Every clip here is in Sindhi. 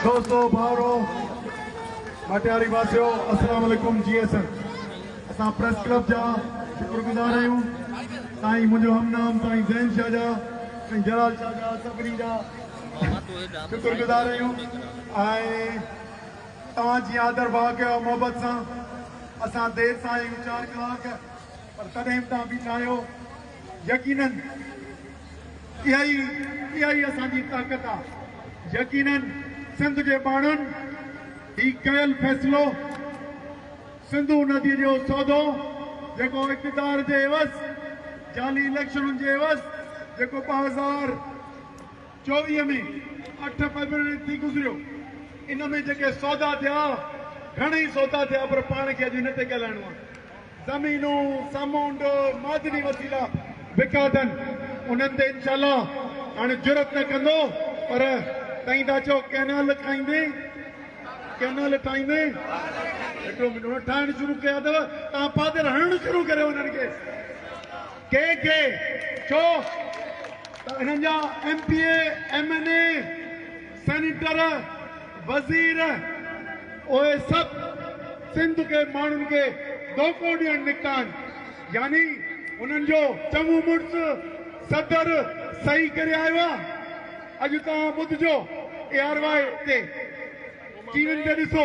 دوستو ڀائرو ڀٽياري واسيو السلام عليڪم جي ايس ايم اسان پريس ڪلب جا شڪر گذار آهيون سائين منهنجو هم نام سائين زين شاھ جا سائين جلال شاھ جا سڀني جا شڪر گذار آهيون ۽ توهان جي آدر ڀاء ڪيو محبت سان اسان دير سان آيون چار ڪلاڪ پر تڏهن به تان بيٺا آهيو يقينن اها ئي اها ئي اسان جي طاقت آ. يقينن سنڌ جي ٻانهن هي ڪيل فيصلو سنڌو ندي جو سودو جيڪو اقتدار جي عيوض جعلي اليڪشنن جي عيوض جيڪو ٻه هزار چوويهه ۾ اٺ فيبروري ٿي گذريو ان ۾ جيڪي سودا ٿيا گهڻئي سودا ٿيا پر پاڻ کي اڄ ان تي ڳالهائڻو آ. زمينون، سمنڊ، معدني وسيلا وڪا اٿن، انهن تي انشاء الله هاڻي جرئت نه ڪندو، پر تئين ٿا چئو ڪئنال ٺاهيندين، ڪئنال ٺاهيندين، هڪڙو منٽ انهن ٺاهڻ شروع ڪيا اٿو، توهان پادر هڻڻ شروع ڪريو انهن کي، ڪنهن کي، ڇو ته انهن جا M P A, M N A, senator, وزير اهي سڀ سنڌ کي ماڻهن کي ڌوڪو ڏيڻ نڪتا آهن يعني انهن جو چڱو مڙس صدر صحيح ڪري آيو آهي اڄ توهان ٻڌجو اي آر واء تي ٽي وين تي ڏسو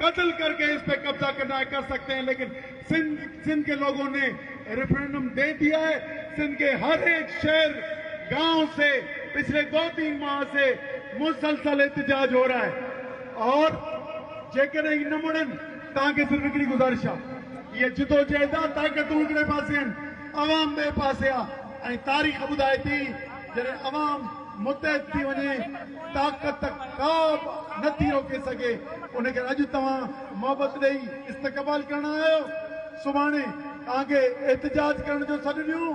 قتل ڪر ڪي اس پي قبضا ڪرنا هي ڪر سڪتي هين ليڪن سنڌ سنڌ ڪي لوگو ني ريفرنڊم دي ديا هي سنڌ ڪي هر هيڪ شهر گاون سي پچلي دو تين ماه سي مسلسل احتجاج هو رها هي اور جيڪڏهن هي نه مڙن تان کي صرف هڪڙي گذارش آ هي جدوجهد آ طاقتون هڪڙي پاسي هين عوام ٻي پاسي آ ۽ تاريخ ٻڌائي تي جڏهن عوام متحد ٿي وڃي طاقت ڪا به نه ٿي روڪي سگهي ان ڪري اڄ توهان محبت ڏئي استقبال ڪرڻ آيا آهيو سڀاڻي توهان کي احتجاج ڪرڻ جو سڏ ڏيون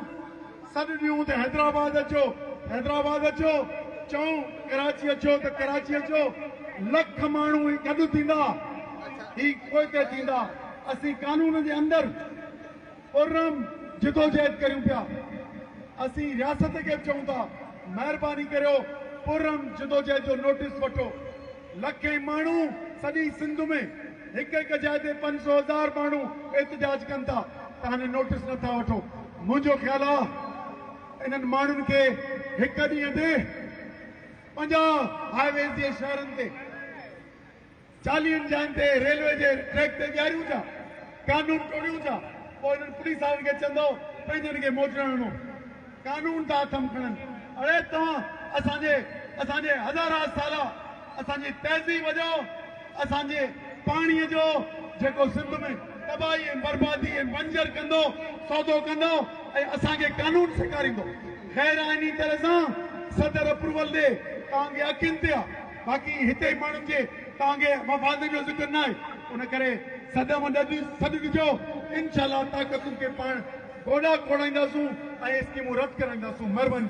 سڏ ڏيون ته حيدرآباد اچو حيدرآباد اچو چئون ڪراچي اچو ته ڪراچي اچو لک ماڻهو هي گڏ ٿيندا هي پوئتي ٿيندا اسين قانون جي اندر پررحم جدوجهد ڪريون پيا. اسين رياست کي به چئون ٿا مهرباني ڪريو پررحم جدوجهد جو نوٽيس وٺو. لکين ماڻهو سڄي سنڌ ۾ هڪ هڪ جاء تي پنج سو هزار ماڻهو احتجاج ڪن ٿا ته هاڻي نوٽيس نه ٿا وٺو. منهنجو خيال آ انهن ماڻهن کي هڪ ڏينهن تي پنجاهه هاء ويز جي شهرن تي. چاليهن جاين تي ريلوي جي ٽريڪ تي ڏياريون ٿا، قانون ٽوڙيون ٿا، پوء انهن پوليس وارن کي چوندؤ پنهنجن کي موٽڻ وڃو، قانون ٿا هٿ م کڻن، اڙي توهان اسان جي اسان جي هزارها سالا اسان جي تهذيب جو، اسان جي پاڻي جو جيڪو سنڌ ۾ تباهي ۽ بربادي ۽ بنجر ڪندو سودو ڪندؤ ۽ اسان کي قانون سيکاريندؤ غير آئيني طرح سان صدر اپروول ڏي توهان جي اکين تي آ. باقي هتي ماڻهن جي تانگهي مفادن جو ذڪر نه آهي ان ڪري سڏ مان سڏ ڏجو انشاء الله طاقتن کي پاڻ گوڏا کوڙائينداسون ۽ اسڪيمون رد ڪرائينداسون مھرباني.